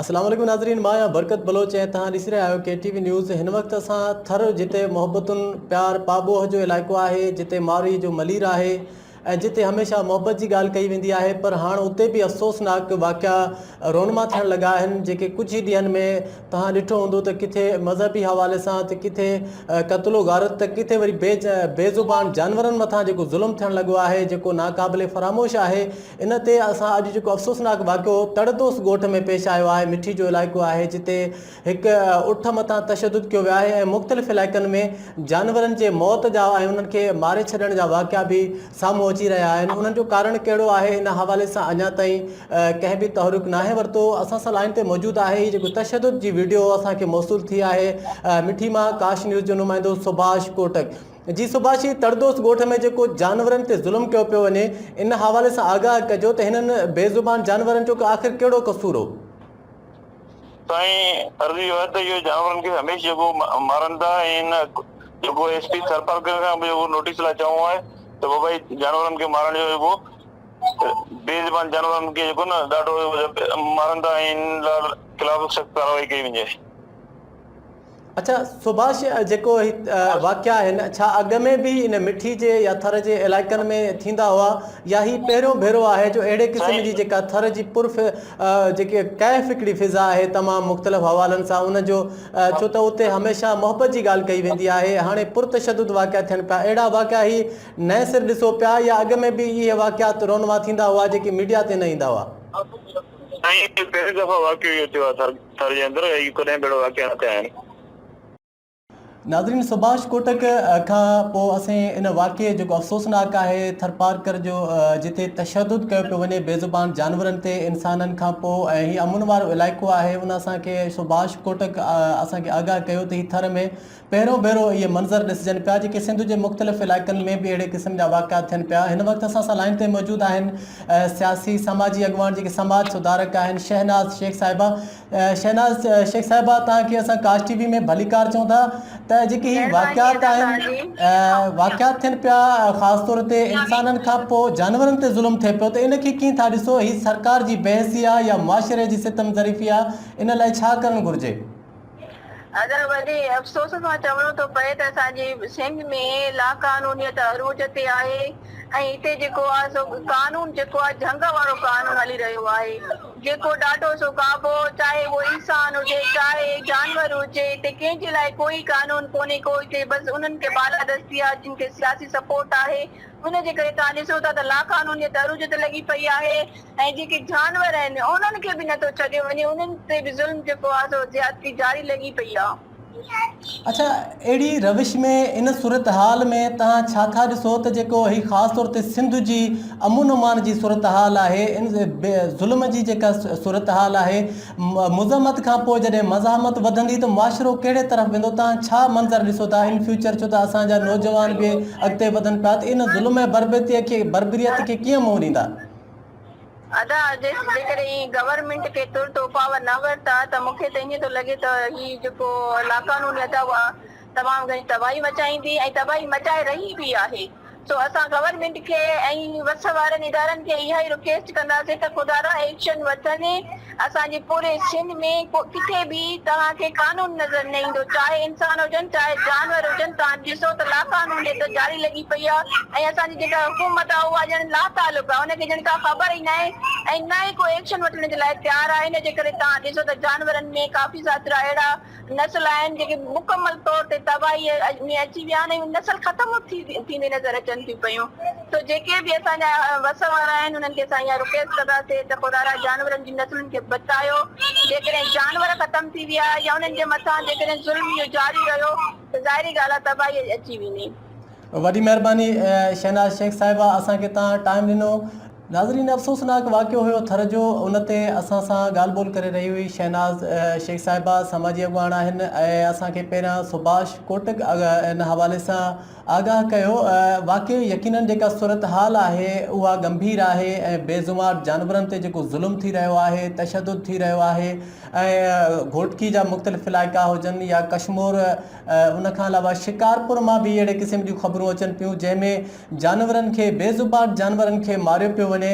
السلام عليڪم ناظرين مان آهيان برڪت بلوچ ۽ توهان ڏسي رهيا آهيو ڪي ٽي وي نيوز هن وقت اسان ٿر جتي محبتن پيار پاٻوهه جو علائقو آهي جتي مارئي جو ملير آهي ۽ جتي هميشه محبت جي ڳالهه ڪئي ويندي آهي پر هاڻ اتي به افسوسناڪ واقعا رونما ٿيڻ لڳا آهن جيڪي ڪجهه ئي ڏينهن ۾ توهان ڏٺو هوندو ته ڪٿي مذهبي حوالي سان ته ڪٿي قتل و غارت ته ڪٿي وري بي بي زبان جانورن مٿان جيڪو ظلم ٿيڻ لڳو آهي جيڪو ناقابل فراموش آهي ان تي اسان اڄ جيڪو افسوسناڪ واقعو تڙ دوست ڳوٺ ۾ پيش آيو آهي مٺي جو علائقو آهي جتي هڪ اٺ مٿان تشدد ڪيو ويو آهي ۽ مختلف علائقن ۾ جانورن جي موت جا ۽ انهن کي ماري ڇڏڻ جا واقعا به سامهون اچي رهيا آهن انهن جو ڪارڻ ڪهڙو آهي ان حوالي سان اڃا تائين ڪنهن به تحرڪ ناهي ورتو اسان سان لائين تي موجود آهي هي جيڪو تشدد جي وڊيو اسان کي موصول ٿي آهي مٺي مان ڪاش نيوز جو نمائندو سڀاش ڪوٽڪ جي سڀاشي تڙدوس ڳوٺ ۾ جيڪو جانورن تي ظلم ڪيو پيو وڃي ان حوالي سان آگاهه ڪجو ته هنن بي زبان جانورن جو آخر ڪهڙو قصور هو. سائين عرض اهو آهي ته اهو جانورن کي هميشھ جيڪو مارن ٿا ۽ هن جيڪو ايس پي ٿرپارڪر کان به اهو نوٽيس لاء چئون آهي ته وبائي جانورن کي مارڻ جو جيڪو بي زبان جانورن کي جيڪو نه ڏاڍو مارن ٿا ۽ هنن خلاف سخت ڪارروائي ڪئي وڃي. اڇا سڀاش جيڪو هي واقعا آهن ڇا اڳ ۾ به ان مٺي جي يا ٿر جي علائقن ۾ ٿيندا هئا يا هي پهريون ڀيرو آهي جو اهڙي قسم جي جيڪا ٿر جي پر جيڪي ڪيف هڪڙي فضا آهي تمام مختلف حوالن سان ان جو ڇو ته اتي هميشه محبت جي ڳالهه ڪئي ويندي آهي هاڻي پر تشدد واقعا ٿين پيا اهڙا واقعا هي نئين سر ڏسو پيا يا اڳ ۾ به اهي واقعات رونما ٿيندا هئا جيڪي ميڊيا تي نه ايندا هئا سائين پهرين دفعا واقعو اهو ٿيو آهي ٿر ٿر جي اندر اهي ڪڏهن ڀيڙو واقع نه ٿيا آهن. ناظرين سڀاش ڪوٽڪ کان پوء اسين ان واقعي جيڪو افسوسناڪ آهي ٿرپارڪر جو جتي تشدد ڪيو پيو وڃي بي زبان جانورن تي انسانن کان پوء ۽ هي امن وارو علائقو آهي ان اسان کي سڀاش ڪوٽڪ اسان کي آگاهه ڪيو ته هي ٿر ۾ پهريون ڀيرو اهي منظر ڏسجن پيا جيڪي سنڌ جي مختلف علائقن ۾ به اهڙي قسم جا واقعا ٿين پيا هن وقت اسان سان لائين تي موجود آهن سياسي سماجي اڳواڻ جيڪي سماج سڌارڪ آهن شهناز شيخ صاحبه شهناز شيخ صاحبه توهان کي اسان ڪاش ٽي وي ۾ ڀليڪار چون ٿا ته جيڪي هي واقعات آهن واقعات ٿين پيا خاص طور تي انسانن کان پوء جانورن تي ظلم ٿئي پيو ته ان کي ڪيئن ٿا ڏسو هي سرڪار جي بي حسي آهي يا معاشري جي ستم ظريفي آهي ان لاء ڇا ڪرڻ گهرجي اگر وڏي افسوس سان چوڻو ٿو پئي ته اسان جي سنڌ ۾ لاقانونيت عروج تي آهي ۽ هتي جيڪو آهي سو قانون جيڪو آهي جهنگ وارو قانون هلي رهيو آهي جيڪو ڏاڍو سو ڪابو چاهي اهو انسان هجي چاهي جانور هجي هتي ڪنهن جي لاء ڪوئي قانون ڪونهي ڪو هتي بس انهن کي بالادستي آهي جن کي سياسي سپورٽ آهي ان جي ڪري توهان ڏسو ٿا ته لاقانونيت عروج تي لڳي پئي آهي. ۽ جيڪي جانور آهن انهن کي به نٿو ڇڏيو وڃي انهن تي به ظلم جيڪو آهي سو زيادتي جاري لڳي پئي آهي. اڇا اهڙي روش ۾ ان صورتحال ۾ توهان ڇا ٿا ڏسو ته جيڪو هي خاص طور تي سنڌ جي امن امان جي صورتحال آهي ان ظلم جي جيڪا صورتحال آهي مزاحمت کان پوء جڏهن مزاحمت وڌندي ته معاشرو ڪهڙي طرف ويندو توهان ڇا منظر ڏسو ٿا ان فيوچر ڇو ته اسان جا نوجوان به اڳتي وڌن پيا ته ان ظلم ۽ بربريت کي ڪيئن منهن ڏيندا. ادا جيڪڏهن هي گورنمينٽ کي ترت اپاء نه ورتا ته مون کي ته ائين ٿو لڳي ته هي جيڪو لاقانوني ادا اها تمام گهڻي تباهي مچائيندي ۽ تباهي مچائي رهي به آهي سو اسان گورنمينٽ کي ۽ وس وارن ادارن کي اها ئي رڪيسٽ ڪنداسين ته خدارا ايڪشن وٺندي اسان جي پوري سنڌ ۾ ڪٿي به توهان کي قانون نظر نه ايندو چاهي انسان هجن چاهي جانور هجن توهان ڏسو ته لاقانونيت جاري لڳي پئي آهي ۽ اسان جي جيڪا حڪومت آهي اها ڄڻ لاتعلق آهي ان کي ڄڻ ڪا خبر ئي ناهي ۽ نه ئي ڪو ايڪشن وٺڻ جي لاء تيار آهي ان جي ڪري توهان ڏسو ته جانورن ۾ ڪافي ذاترا اهڙا نسل آهن جيڪي مڪمل طور تي تباهي ۾ اچي ويا آهن ۽ نسل ختم ٿيندي نظر اچن ٿيون پيون سو جيڪي به اسان جا وس وارا آهن انهن کي اسان اها رڪويسٽ ڪنداسين ته خدا را جانورن جي نسلن کي بچايو جيڪڏهن جانور ختم ٿي ويا يا انهن جي مٿان جيڪڏهن ظلم اهو جاري رهيو ته ظاهري ڳالهه آهي تباهي اچي ويندي. وڏي مهرباني شهناز شيخ صاحبه اسان کي تهان ٽائيم ڏنو. ناظرين افسوسناڪ واقعو هيو ٿر جو ان تي اسان سان ڳالهه ٻولهه ڪري رهي هئي شهناز شيخ صاحبه سماجي اڳواڻ آهن ۽ اسان کي پهريان سڀاش ڪوٽڪ ان حوالي سان آگاهه ڪيو واقعي يقينن جيڪا صورتحال آهي اها ڳنڀير آهي ۽ بيزمار جانورن تي جيڪو ظلم ٿي رهيو آهي تشدد ٿي رهيو آهي ۽ گهوٽڪي جا مختلف علائقا هجن يا ڪشمور ان کان علاوه شڪارپور مان به اهڙي قسم جون خبرون اچن پيون جنهن ۾ جانورن کي بي زبان جانورن کي ماريو پيو وڃي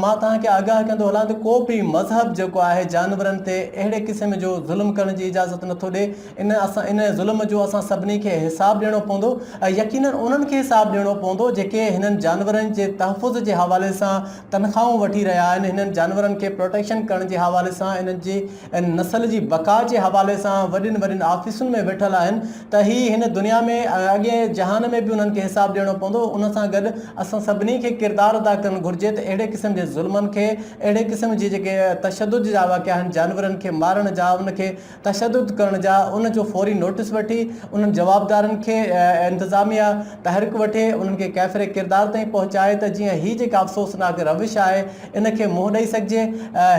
مان توهان کي آگاهه ڪندو هلان ته ڪو به مذهب جيڪو آهي جانورن تي اهڙي قسم جو ظلم ڪرڻ جي اجازت نٿو ڏي ان ان ظلم جو اسان سڀني کي حساب ڏيڻو پوندو ۽ يقينن انهن کي حساب ڏيڻو پوندو جيڪي هنن جانورن جي تحفظ جي حوالي سان تنخواهون وٺي رهيا آهن هنن جانورن کي پروٽيڪشن ڪرڻ جي حوالي سان انهن جي ان نسل جي بقا جي حوالي سان وڏين وڏين آفيسن ۾ ويٺل آهن ته هي هن دنيا ۾ ۽ اڳئين جهان ۾ به انهن کي حساب ڏيڻو پوندو ان سان گڏ اسان سڀني کي ڪردار ادا ڪرڻ گهرجي ته اهڙي قسم جي ظلمن کي اهڙي قسم جي جيڪي تشدد جا واقعا آهن جانورن کي مارڻ جا ان کي تشدد ڪرڻ جا ان جو فوري نوٽس وٺي انهن جوابدارن کي انتظاميا تحرڪ وٺي انهن کي ڪيفر ڪردار تائين پهچائي ته جيئن هي جيڪا افسوسناڪ روش آهي ان کي منهن ڏئي سگهجي.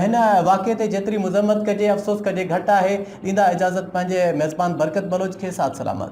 هن واقعي تي جيتري مذمت ڪجي افسوس ڪجي گهٽ آهي. ڏيندا اجازت پنهنجي ميزبان برڪت بلوچ کي ساٿ سلامت.